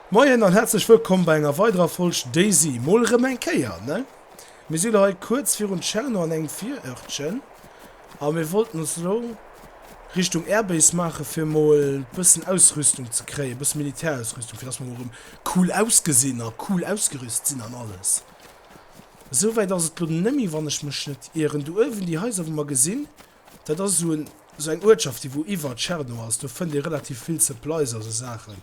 Moien an häerzlech wëllkomm bei enger weiderer Folg Daisy. Mol erëm eng Kéier, ne? Mir si lo hei kuerz virun Tscherno an engem Virörtchen a mir wollten ons lo Richtung Airbase maachen, fir mol bëssen Ausrüstung ze kréien, bësse Militärausrüstung, fir dass mer mol erëm cool ausgesinn a cool ausgerüst sinn an alles. Esouwäit ass et lo net méi, wann ech mech net ieren. Do uewen déi Haiser, wou mer gesinn, Dat ass esou esou eng Uertschaft, déi wou iwwer Tscherno ass. Do fënnt ee relativ vill Supplies a sou Saachen.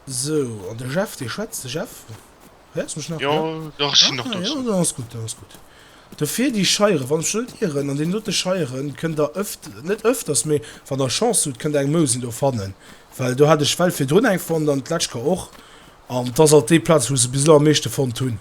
Sou, an de Jeff, dee schwätzt. De Jeff, héiers mech nach? Jo, jo, ech sinn nach do. Jo, dann ass gutt, dann ass gutt. Dofir déi Scheieren, wann ech net ieren, an deenen dote Scheieren kënnt der öft, net öfters, mee wann der Chance hutt, kënnt der eng Mousen do fannen. Well do hat ech d'Well virdrun eng fonnt an d'lescht Kéier och. An et ass alt déi Plaz, wou se bis elo am meeschte fonnt hunn.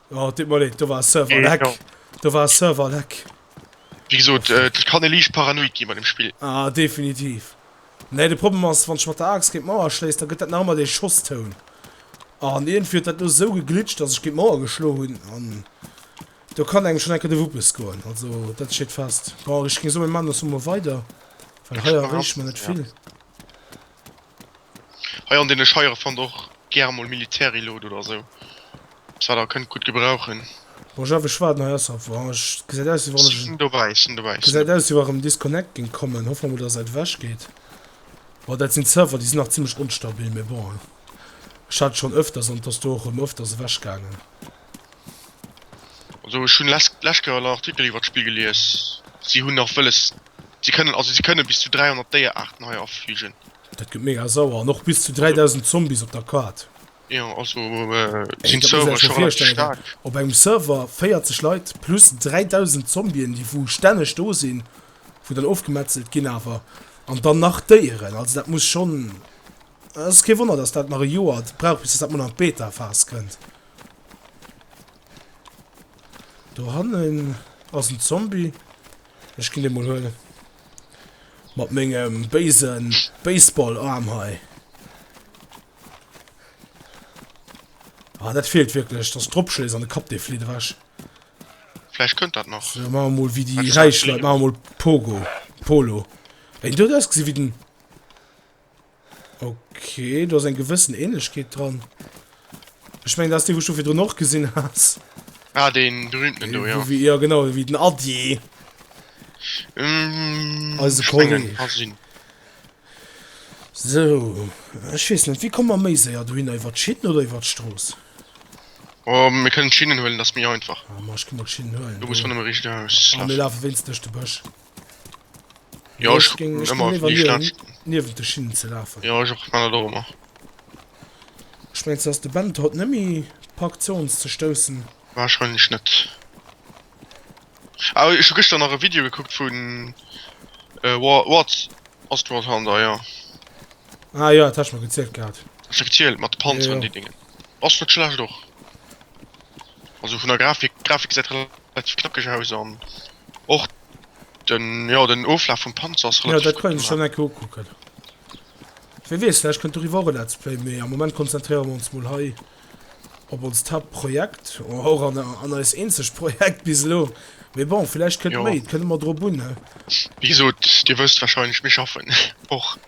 Oh, dit mol leed, do war Server leck. Do war Server leck. Wie gesot, et kann e liicht paranoid ginn bei dem Spill. Ah, definitiv. Nee, de Problem ass, wann ech mat der Axt géint d'Mauer schléiss, da gëtt dat nach ëmmer dee Schosstoun. An iergendwéi huet dat elo esou geglitscht, datt ech géint d'Mauer geschloen hunn. An do kann engem schonn eng Kéier de Wuppes goen. Also, dat steet fest. Bon, ech géing soen, mir maachen dës mol weider, well hei erreeche mer net vill. Hei an deene Scheiere fannt der och gäre mol Militärilot oder esou eppes wat der kënnt gutt gebrauchen. Bon, Jeff, ech waarden hei ausser Range. Gesäit aus wéi wann ech en. Sinn dobäi, sinn dobäi, sinn dobäi. Gesäit aus wéi wa rëm Disconnect géing kommen. Hoffe mol dass et ewech geet. Bon, dat sinn d'Server, déi sinn nach zimmlech onstabil, mee bon, ech hat et schonn ëfters an et ass do och rëm ëfters ewech gaangen. Also ech hunn lescht Kéier en Artikel iwwert d'Spill gelies. Si hunn nach wëlles Si kënnen, also si kënnen bis zu 300 Déieraarten hei afligen. Dat gëtt mega sauer. An och bis zu 3.000 Zombies op der Kaart. Jo, also sinn d'Server scho relativ staark. Op engem Server 40 Leit plus 3.000 Zombien, déi wou stänneg do sinn, wou dann ofgemetzelt ginn awer. An dann nach Déieren. Also dat muss schonn, et ass kee Wonner, datt dat nach e Joer brauch, bis datt dat mol an d'Beta-Phas kënnt. Do hannen ass en Zombie. Ech ginn dee mol huelen. Mat mengem béise Baseball-Aarm hei. Ah, dat feelt wierklech, dass dropschléiss an de Kapp, dee flitt ewech. Vläicht kënnt dat nach. Sou, maache mol wéi déi räich Leit, maache mol Pogo, Polo. Eng dout ausgesi wéi den. Ok, do ass eng gewëssen Ähnlechkeet dran. Ech meng dat ass dee wou ech do virdrun och gesinn hat. Ah, deen berühmten do, ja. Wéi, ja genau, wéi den Adi. Mm, Also ech mengen, Kolleg. kann sinn. So, ech weess net, wéi komme mer méi séier dohinner, iwwert d'Schinn oder iwwert d'Strooss? Oh, mir kënnen d'Schinnen huelen, dat ass méi einfach. Ah, ma ech gi mol d'Schinn huelen. Du muss do. ronderëm e richtege Haus Ah, mir lafen. lafe wéinst duerch de Bësch. Ja, ech ech ging, ech ging immer nie schlecht. Niewel de Schinnen ze lafen. Ja, ech och man och immer. Ech mengst dass de Band haut nëmi pak zouns ze stoussen. Wahrscheinlich net. Ah, ech hu gëschter nach e Video gekuckt vun äh, War Wars Astronaut Hunter, ja. Ah ja, dat hat ech mer gezielt gehat. Speziell mat Panzer ja, ja. an déi Dingen. Ass net schlecht och. Also vun der Grafik Grafik seit relativ knackeg aus an och den ja den Oflaf vum Panzer ass relativ. Ja dat kann schon enke ukucken. Wie wees vielleicht kënnt doriwwer och e Let's Play, mee am Moment konzentriere mer ons mol hei op onst Hauptprojekt oder och an an eis eenzegt Projekt bis elo. Mee bon vielleicht kënnt méi, et kënnt ëmmer drop un ne. Wéi gesot, dir wësst wahrscheinlech, mir schaffen och.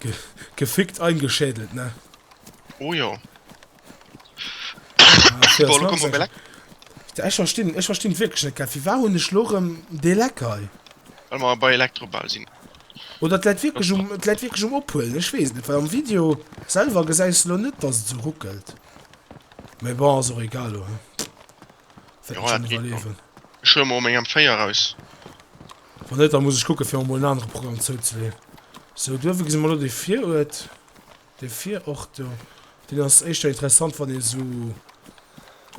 Ge gefickt eingeschädelt, ne? Oh jo. Ah, Boah, lo kommen wir leck. Ech verstinn, ech verstinn wirklich net, wie war hun ech lorem de Leckei? Weil wir bei Elektrobau sinn. Oder dat wirklich um, dat wirklich um ophuelen, ech wees net, weil am Video selber gesäis lo net, dass et so ruckelt. Mais bon, ass och egal lo, he. Fett schon überlewen. Ech hun mol meng M4 raus. Wann net, da muss ech kucken, fir mer mol en anere Programm zouzeleen. Sou, do gesi mer elo dee Viruert, dee Viruert do. Deen ass éischter interessant, wann ee esou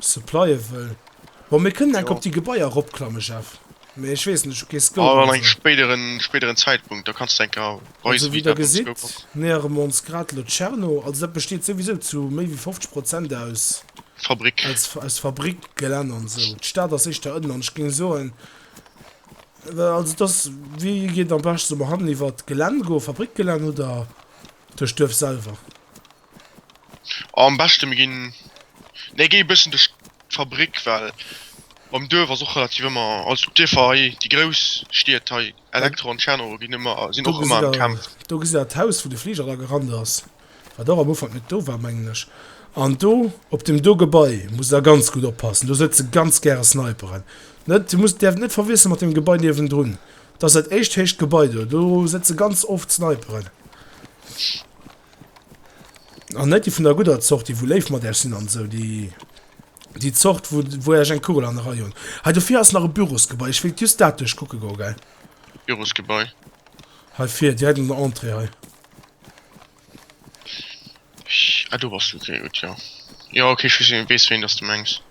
supplye wëll. Bon, mir kënnen enk op déi Gebaier eropklammen, Jeff. Mee ech weess net, ech hu kee Scope. An engem spéideren, spéideren Zäitpunkt, da kanns de enk aweisen, wéi dat mam Scope ass. Also, wéi Der gesitt, nähere mer ons grad elo Tscherno. Also, dat besteet souwisou zu méi wéi 50 Prozent aus. Fabrik. Aus, aus Fabrikgelänn an esou. D'Stad ass éischter ënnen. An ech géing soen. Also et ass, wéi geet et am beschten zum Handel, iwwert d'Gelänn goen, Fabrikgelänn oder duerch d'Duerf selwer? Am beschte mir ginn, nee géi e bëssen duerch d'Fabrik, well mam Duerf ass och relativ ëmmer, also d'Dierfer hei, déi grouss Stied hei, Elektro an Tschernow ginn ëmmer, sinn och ëmmer am Kämpfen. Do gesitt awer d'Haus wou de Fliger da gerant ass. Wat och am Ufank net do war, mengen ech. An do, op deem do Gebai, muss der ganz gutt oppassen. Do sëtze ganz gäre Sniperen. Net, dir musst, däerft et net verwiessele mat deem Gebai niewendrun. Dat ass dat éischt héicht Gebai do. Do sëtze ganz oft Sniperen. An net déi vun der gudder Zort, déi wou léif mat Äech sinn an esou. Déi, déi Zort, wou, wou Äech eng Kugel an de Rei hunn. Hei dofir ass nach e Bürosgebai. Ech wéilt just dat duerchkucke goe, gell? Bürosgebai. Hei vir, direkt un der Entrée hei. Ah, do bass du. Okay, gutt, jo. Jo, okay, ech weess, weess wéin dass du mengs.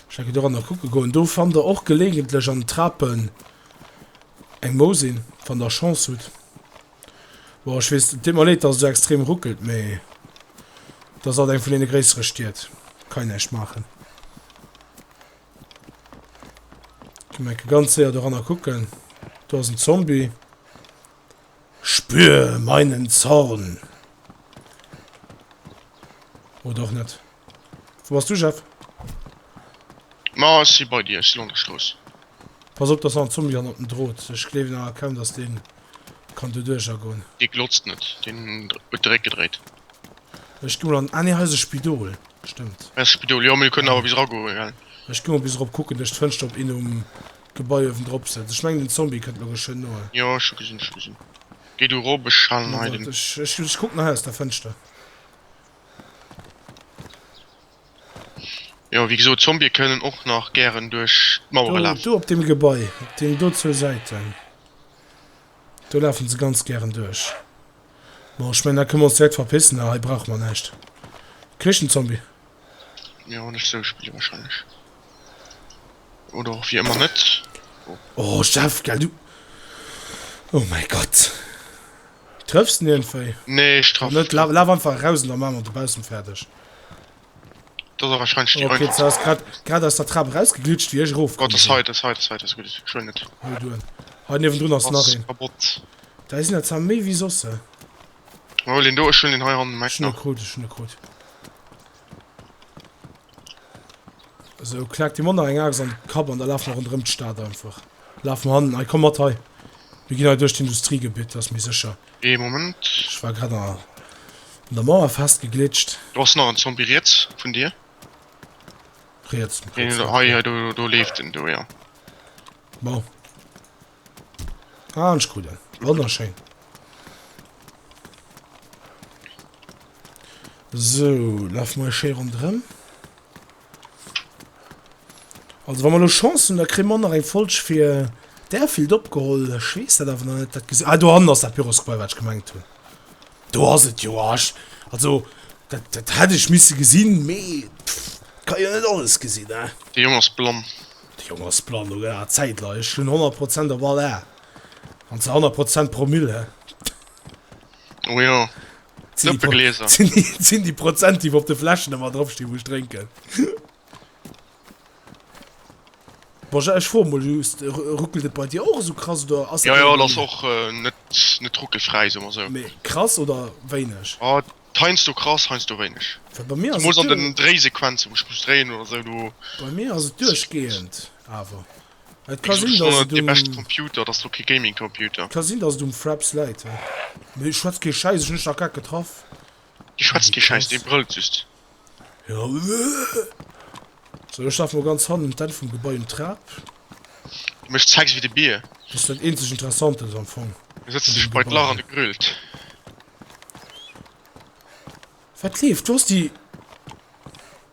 Ech enke doranner kucke goen. Do fannt der och geleegentlech an den Trapen eng Mousin, wann der Chance hutt. Bon, ech weess, et deet mer leed, dass et esou extrem ruckelt, mee et ass alt eng vun deene gréissere Stied. Kann een näischt maachen. Ke menke ganz séier doranner kucken. Do ass en Zombie. Spür meinen Zorn. Oder och net. Wo bass du, Jeff? Ma si bei dir, si lo an der Strooss. Pass op, dass nach en Zombie hannert dem Drot. Ech gleewen awer kaum, dass dee kann do duerch agoen. Dee glotzt net, deen huet de Réck gedréit. Ech gi mol an, ah nee hei ass e Spidol, stëmmt. Hei ass e Spidol, jo mee mir kënnen awer bis eragoen, gell? Ech gi mol bis erop kucken, duerch d'Fënschter op een um Gebai uewendrop sëtzt. Ech mengen den Zombie kënnt mer geschwënn no. Jo ech hu gesinn, ech hu gesinn. Géi du erop, ech halen hei den. Wart, ech kucken hei aus der Fënschter. Jo wéi gesot, Zombie kënnen och nach gären duerch d'Mauere lafen. Do op deem Gebai, op deenen do zwou Säiten. Do lafen se ganz gären duerch. Bon, ech mengen da kënne mer ons direkt verpissen, da hei brauche mer näischt. Këchenzombie. Mir hunn ech sou spille wahrscheinlech. Oder och wéi ëmmer net. Oh Jeff, gell du. Oh mäi Gott. Trëffs niergendwéi. Nee, ech trëff net. Laf einfach eraus an da maache mer dobaussen fäerdeg. Dat ass wahrscheinlech déi einfachst. Okay, ze ass grad aus der Trap rausgeglitscht wéi ech erof komm sinn. Oh dat ass hei, dat ass hei, dat ass hei, dat ass gutt, ech hunn et. Hol du en. Hei niewendrun ass nach een. Kapott. Dei sinn der zwar méi wéi soss. Hol een do, ech hunn een hei an dem Eck nach. Ech hunn e krut, ech hunn e krut. Esou, klack dir mol nach eng Axt an de Kapp an da laf mer ronderëm d'Stad einfach. Laf mer hannen, hei komm mat hei. Mir ginn hei duerch d'Industriegebitt, dat ass méi sécher. Ee Moment. Ech war grad an der Mauer festgeglitscht. Do ass nach en Zombie riets vun dir. Riets? Hei, hei, do leeft en do, jo. Bon. Ah, ech krut en. Wonnerschéin. Sou, laf mol schéi rondrëm. Also wa mer lo Chance hunn, da kréie mer och nach eng Folg fir d'Airfield opgeholl. Ech weess dat awer nach net. Dat gesi, ah, dohannen ass dat Pyrrhusgebai, wat ech gemengt hunn. Do ass et jo. Ah, ech, also, dat, dat hätt ech misse gesinn, mee et ka een jo net alles gesinn, ne? De Jong ass blann. De Jong ass blann, lo gëtt awer Zäit, Leit. Ech hunn 100 Prozent op all Ae. An zwar 100 Prozent pro Mille. Oh jo. Zëppegläser. Sinn déi Prozent, déi op de Fläschen ëmmer drop stinn, wou ech drénken. Bon, ech froe mol just, ruckelt et bei dir och esou krass oder ass. Jo, jo, et ass och net, net ruckelfräi, soe mer esou. Mee krass oder wéineg? Oh, heiansdo krass, heiansdo wéineg. Well bei mir ass et. Zumools an den Dréisequenzen, wou ech muss dréien oder esou, do. Bei mir ass et duerchgehend awer. Et ka sinn, dass et um Computer, dass do kee Gaming Computer. Ka sinn, dass et um Fraps läit, jo. Mee ech schwätz kee Schäiss, ech hunn dech nach grad getraff. Di schwätzt kee Schäiss, dee brëllt just. Jo. So, ech laf mol ganz hannen un d'Enn vum Gebai um Trap. Du méchs Sex wéi de Bier. Dass dat eenzeg Interessant ass am Fong. Du sëtzt dech bei d'Lach an e grillt. Wat leeft? Du ass déi.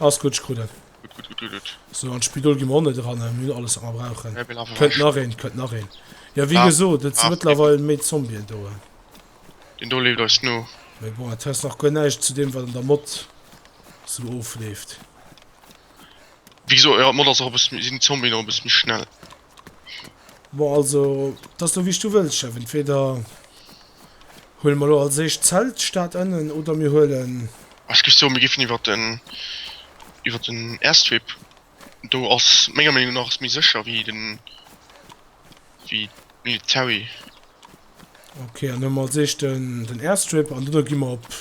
Alles gut, ich krut et. Gut, gut, gut, gut, gut. So, an Spidol gi mer och net dran, mir hunn alles wat mer brauchen. Wer will awer Kënnt nach een, kënnt nach een. Ja wéi Ja. gesot, et si Ah, mëttlerweil méi Zombien do. Den do leeft eis no. Mee bon, et hues nach guer näischt zu deem wat an der Mod sou ofleeft. Wéi gesot, ja d'Mod ass och e bësse méi, sinn d'Zombien och e bësse méi schnell. Bon also et ass lo wéi s du wëlls Jeff, entweder huele mer lo als éischt d'Zelt Stad ënnen oder mir huelen. Ech géif soen mir géifen iwwer den iwwer den Airstrip, do ass menger Meenung nach ass méi sécher wéi den wéi d'Military. Ok an hu mer als éischt den den Airstrip an duerno gi mer op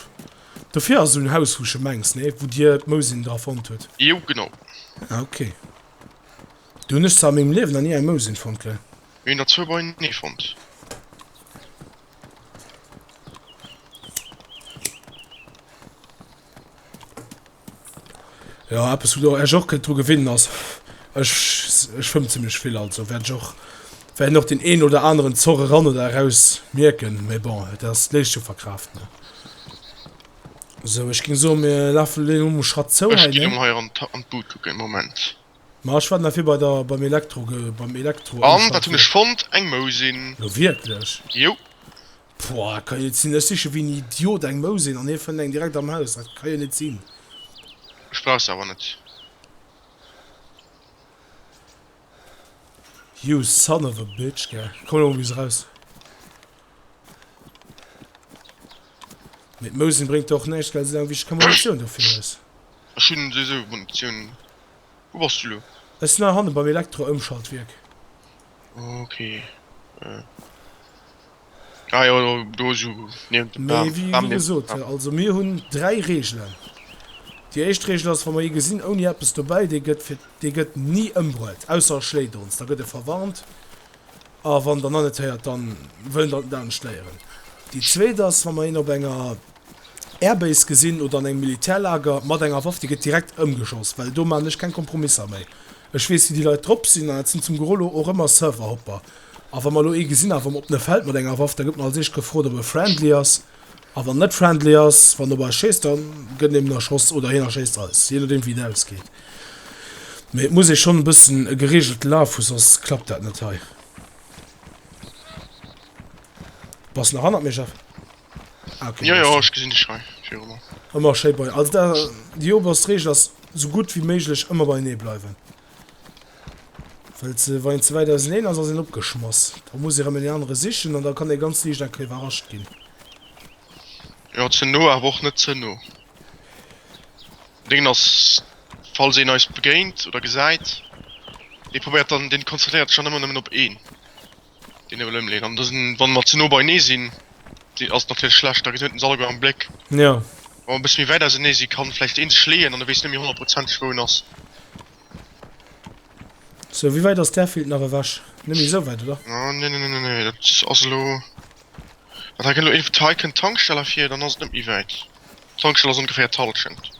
dofir ass esou en Haus wou s de mengs nee wou dir d'Mousin dra fonnt hutt? Jo genau. Ah ok. Do hun ech zwar an mengem Liewen nach nie eng Mousin fonnt, gell? Mir hun der zwou bei enee fonnt. Jo, eppes wou der iech och kënnt dru gewinnen ass, ech ech schwëmm zimlech vill, also wäert ech och wäerten och deen een oder aneren Zorr eran oder eraus mierken, mee bon, et ass léisst jo verkraaft, ne? Sou, ech ging soen, mir lafe lo um Schatt zou hei, ne? Ech gin emol hei an d'Bud kucken, Moment. Ma ech war dann efir bei der beim Elektro ge beim Elektro An wat hunn ech fonnt? Eng Mousin! Lo wierklech? Jo! Pouah, dat kann jo net sinn! Ech siche wéi en Idiot eng Mousin an hie fënnt eng direkt am Haus. Dat ka jo net sinn! Ech brauch se awer net. You son of a bitch, gell? Komm elo mol bis eraus! Mit Mousen bringt och näischt, well se eng wichteg Kommunikatioun dofir ass. Ech hunn se esou Munitioun. Wou bass du lo? Ech sinn hei hanne beim Elektro-Ëmschaltwierk. Ok. Ah jo, do, do esou niewent dem Bam. Mee wéi Bam niewent gesot, dem Bam. also mir hunn dräi Reegelen. Déi éischt Reegel ass, wa mer ee gesinn ouni eppes dobäi, dee gëtt fir, dee gëtt ni ëmbruet, ausser e schléit ons, da gëtt e verwarnt. A wann Der nach net héiert, da wëllen Der dat net léieren. Déi zweet ass, wa mer een op enger Airbase gesinn oder an engem Militärlager mat enger Waff, déi gëtt direkt ëmgeschoss, well do maachen ech keng Kompromisser méi. Ech weess, wéi déi Leit drop sinn, an dat sinn zum Gros elo och ëmmer Serverhopper. A wa mer elo ee gesinn, awer op en Feld mat enger Waff, da gëtt mer als éischt gefrot, ob e friendly ass. A wann net friendly ass, wann op eis schéisst, da gëtt eben erschoss oder hien erschéisst eis, jee nodeem wéi et ausgeet. Mee et muss ee schonn e bëssen e gereegelte Laf hu, soss klappt dat net hei. Bass nach hannert mir, Jeff? Ah, okay, jo, jo, ech gesinn dech hei virun. Ëmmer schéi bei, also da, déi oberst Reegel ass, esou gutt wéi méiglech ëmmer beienee bleiwen. Well se, wann een ze wäit auseneen ass, ass een opgeschmass. Da muss ee rëm een anere sichen an da kann ee ganz liicht eng Kéier iwwerrascht ginn. Jo, ze no awer och net ze no. Deen ass, falls een eis begéint oder gesäit, dee probéiert dann, deen konzentréiert sech dann ëmmer nëmmen op een. Deen ewel emleen an dësen wann mer ze no beinee sin dee ass natierlech schlecht da gëtt hien den Sall guer am Bléck. Jo. Wann mer e bësse méi wäit ausernee si kann vläicht een sech leeën an e weess net méi honnertprozenteg wou en ass. Sou wéi wäit ass d'Airfield nach ewech? Net méi esou wäit oder? Ah nee nee nee nee dat ass elo dat hei kënnt elo een vun hei kënnt d'Tankstell ervir dann ass et net méi wäit. D'Tankstell ass ongeféier d'Hallschent.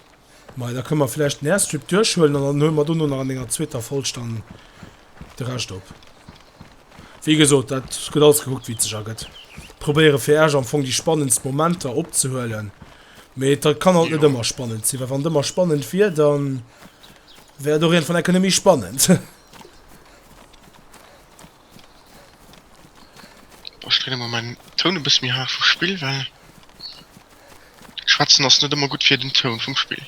Majo, da kënne mer vläicht den Airstrip duerchhuelen an dann huele mer dono nach an enger zweeter Folg dann de Rescht op. Wéi gesot, dat gëtt alles gekuckt, wéi et sech ergëtt. Probéiere fir Iech am Fong déi spannendst Momenter opzehuelen, mee et kann halt net ëmmer spannend sinn, well wann et ëmmer spannend wier, da wär et och iergendwann enke net méi spannend. Ech dréine mol mäin Toun e bësse méi haart vum Spill, well schwätzen ass net ëmmer gutt fir den Toun vum Spill.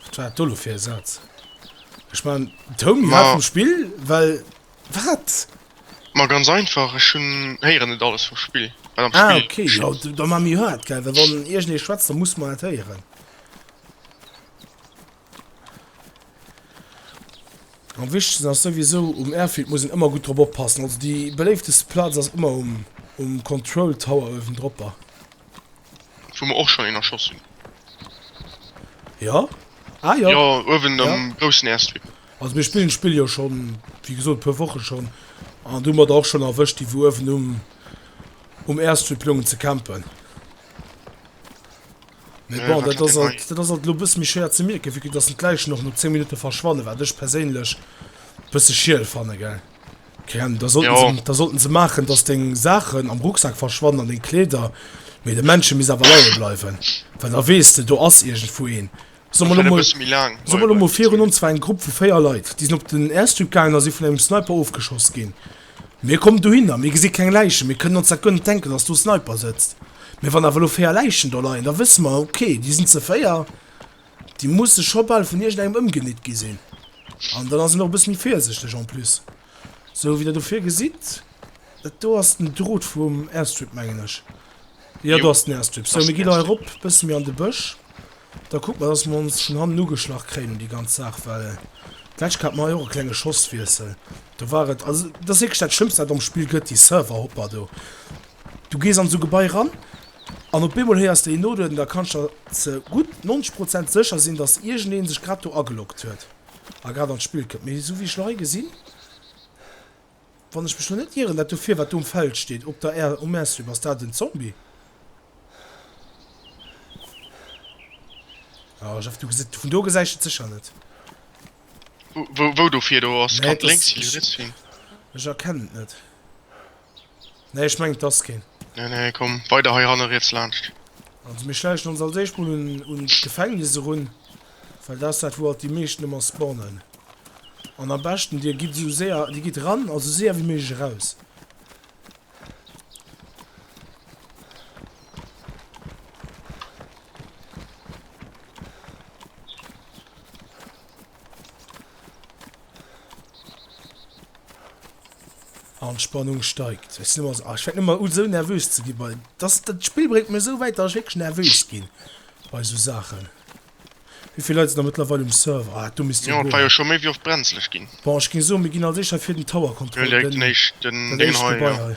Wat war dat do lo fir e Saz? Ech maachen den Toun méi haart vum Spill, well wat? Ma ganz einfach, ech hunn, héieren net alles vum Spill. Ah ok, jo da maache méi haart, well wann iergendee schwätzt, da musse mer dat héieren. Am wichtegsten ass souwisou um Airfield muss een ëmmer gutt drop oppassen. Also déi beléifteste Plaz ass ëmmer um um Control Tower uewendropper. Wou mer och schonn een erschoss hunn. Ja? Ah ja. Jo, uewen Ja. am groussen Airstrip. Also mir spillen d'Spill jo schonn, wéi gesot, e puer Woche schonn. An do hu mer der och schonn erwëscht, déi wou uewen um um Airstrip loungen ze campen. Mee bon, dat ass alt, dat ass alt elo e bësse méi schwéier ze mierken, vu datt en d'Läichen och no 10 Minutte verschwanne, wat ech perséinlech e bësse schiel fanne, gell? Kerem, da sollten se, da sollten se maachen, datt deng Saachen am Rucksak verschwannen an deng Kleeder, mee de Männche misst awer leie bleiwen, well da weess de, do ass iergendwou een. Soe mer elo mol, soe mer elo mol virun ons war eng Grupp vu 4 Leit, déi sinn op den Airstrip gaangen a si vun engem Sniper ofgeschoss ginn. Mir kommen dohinner, mir gesi keng Läichen, mir kënnen ons dat guer net denken, dass do e Sniper sëtzt. Mee wann awer elo véier Läichen do leien, da wësse mer, okay, déi sinn ze véier, déi musse scho bal vun iergendengem ëmgenitt gi sinn. An dann ass een och e bësse méi virsichteg en plus. Sou wéi Der do vir gesitt, dat do ass den Drot vum Airstrip, mengen ech. Jo, do ass den Airstrip. Sou, mir gi elo hei erop, e bësse méi an de Bësch. Da kuckt mer, dass mer ons schonn hannen ugeschlach kréien un déi ganz Saach, well d'lescht Kéier hat mer hei och e klenge Schosswiessel, do war et, also et ass wierklech dat Schlëmmst, wat et am Spill gëtt, déi Serverhopper do. Du gees an esou Gebai eran an op eemol héiers de een nodueden, da kanns de der ze gutt 90 Prozent sécher sinn, dass iergendee sech grad do ageloggt huet a grad an d'Spill kënnt. Mee esou wéi ech elo hei gesinn, Wann ech mech lo net ieren, dat do vir wat do um Feld steet op der Aire um Air-Strip, ass dat en Zombie? Ah Jeff du gesit, vun do gesäich et secher net. Wou do vir do ass, kann links si, kann riets si. Ech erkennen et net. Nee ech mengen et ass keen. Nee nee komm weider hei hanne riets laanscht. Also mir schläichen ons als éischt mol un d'Gefängnis erun, well dat ass dat wou alt déi meeschten ëmmer spawnen. An am beschten dir gitt esou séier, dir gitt ran a sou séier wéi méiglech eraus. Anspannung steigt. Ech so, ah, fängt immer un so nervös ze gi bei das dat Spiel bringt mir so weit, dass ich wirklich nervös gin bei so Sachen. Wievill Leit sinn da mëttlerweile um Server? Ah, du misst jo war jo scho méi wéi oft brenzlech ginn. Bon, ech géing soen, mir ginn als éischter fir den Tower kontrolléieren, dat éischt Gebai hei.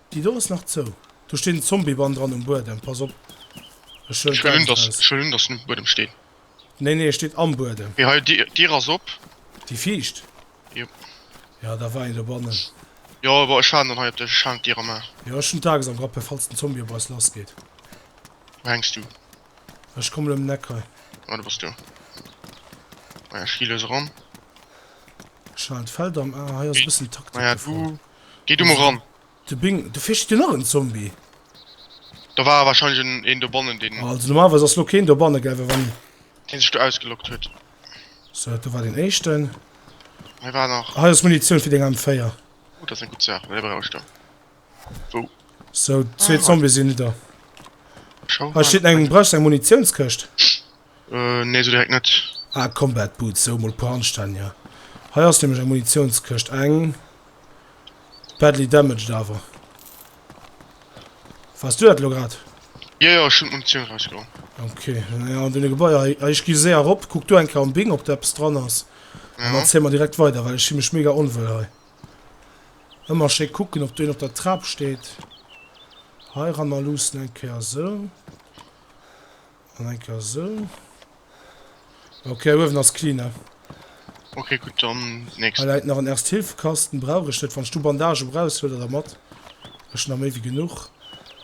Déi do ass nach zou. Do steet en Zombiebann dran um Buedem, pass op. Ech huelen Ech wëllen, d'Aarbecht dass, aus. ech wëllen, dass en um Buedem steet. Nee, nee, e steet am Buedem. Mee hei, d'Dier, d'Dier ass op. Déi viischt? Jop. Ja, da war een dobannen. Jo, awer ech waarden dann hei op dech. Ech halen d'Dier erëm a. Jo, ech hunn d'Ax am Grappel, falls den Zombie op eis lassgeet. Wou hänks du? Ech kommen ëm den Eck hei. Ah, do bass du. Maja, ech gi lues eran. Ech halen d'Feld am A. Hei ass e Wéi? bëssen Taktik Maja, du. gefrot. Gei du mol ran. De Bing, do vir steet nach en Zombie. Da war wahrscheinlech een dobannen deen. Also normalerweis ass lo keen dobanne gell well wann. Deen sech do ausgeloggt huet. So do war deen éischten. Hei war nach. Hei ass Munitioun fir deng M4. Oh dat ass eng gutt Saach, well déi brauch ech da. Wou? So zwee Zombie sinn nidder. Hei steet eng, brauchs du eng Munitiounskëscht? Nee, sou direkt net. Ah, Combat Boots, sou mol puer Anstännier. Hei ass nämlech eng Munitionskëscht, eng badly damaged awer. Wars du dat elo grad? Jo, jo, ech hunn d'Munitioun erausgeholl. Ok, naja, an deene Gebaier hei. Ech gi séier erop, kuck du eng Kéier am Bing, ob do eppes dran ass. An dann zéie mer direkt weider, well ech si mech mega onwuel hei. Ëmmer schéi kucken, ob do een op der Trap steet. Heirannerluussen eng Kéier, sou. An eng Kéier esou. Okay, uewen ass clean, ne? Okay, gutt, dann d'nächst. Hei läit nach en Erste-Hilfe-Kasten, brauch ech net. Wann ech du Bandagë brauchs, huel der der mat. Ech hunn der méi wéi genuch.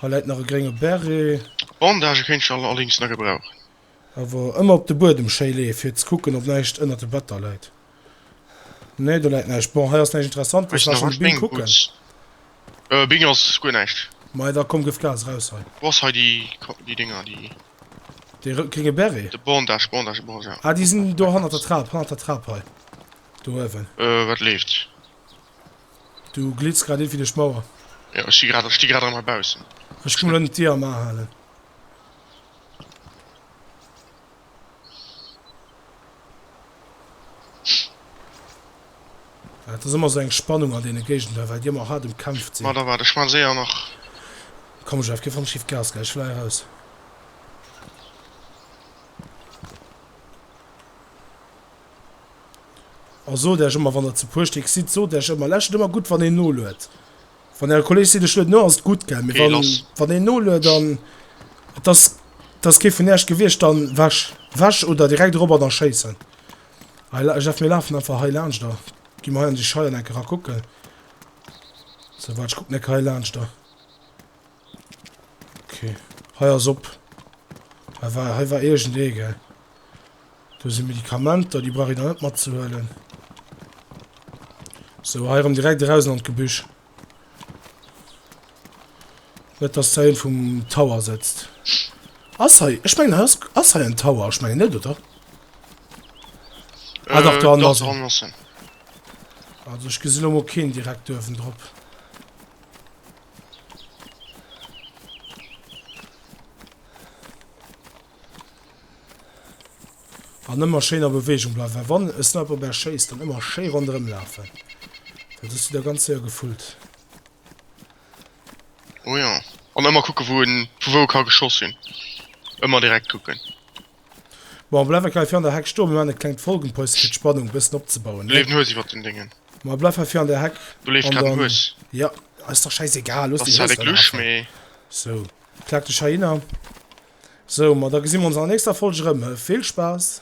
Hei läit nach e grénge Beret. Bandagë kéint ech allerdéngs nach gebrauchen. Awer ëmmer op de Buedem schéi leeë fir ze kucken, ob näischt ënnert de Better läit. Nee do läit näischt. Bon hei ass näischt Interessantes, Ech lass nach mat Bing Bing kucken. gutt. Äh, Bing ass guer näischt. Mei da komm gëff Gas, raus hei. Wou ass hei déi Ka-, déi Dinger, déi. Dee rë-, gringe Beret? De Bondage, Bondage, de Bondage, ja. Ah déi sinn do hannert der Trap, hannert der Trap hei. Do uewen. Äh, wat leeft? Du glitts grad iergendwéi duerch d'Mauer. Jo, ech si grad, ech sti grad erëm hei baussen. Ech komm lo nët d'Dier am A halen. Et ass ëmmer esou eng Spannung an deene Géigender, well déi ëmmer haart ëmkämpft sinn. Komm, ech däerf kee Fong schief Gas ginn, ech fläi eraus. A sot Äech ëmmer, wann Der ze puer Stéck sidd, sot Äech ëmmer, Lescht et ëmmer gutt, wann een noluet. Van der Kollege seet ech lueden no ass et gudd gell mee wann wann een noluet an et ass et ass kee vun Äerch gewiecht dann weg weg oder direkt erop an da schéissen hei la ech daf mir laafen einfach hei laanscht da gi mer hei an déi Scheier enke ra kucken sou waart ech kucken enke hei laanscht da. Okay. Hei ass op. Hei war, hei war irgend ee, gell? Do si Medikamenter, déi brauch ee da net matzehuelen. So, hei erëm direkt erausen an d'Gebüsch. Net, dass da een vum Tower sëtzt. Ass hei, ech mengen, hei ass, ass hei en Tower? Ech mengen net, oder? Ah, dach, do hannen ass en. Also, ech gesi lo mol keen direkt do uewendrop. An ëmmer schéin a Beweegung bleiwen. Well wann e Sniper op Äech schéisst, dann ëmmer schéi ronderëm lafen. Dat hues du der ganz séier gefullt. Oh jo. An ëmmer kucken, wou en vu wou e ka geschoss hunn. Ëmmer direkt kucken. Bon, bleif enkei fir an der Heck stoen, mir machen e klengt Folgenpäuschen fir d'Spannung bessen opzebauen, ne? Leeft en Hues iwwert den Déngen? Ma bleif hei fir an der Heck. Do leeft an grad en dann, Hues. ja, ass dach schäisegal, looss Ass déi zwar Hues de da nach Glusch, awer. mee. So, klack dech heihinner. So, ma da gesi mer ons an der nächster Folg erëm, he? Vill Spaass!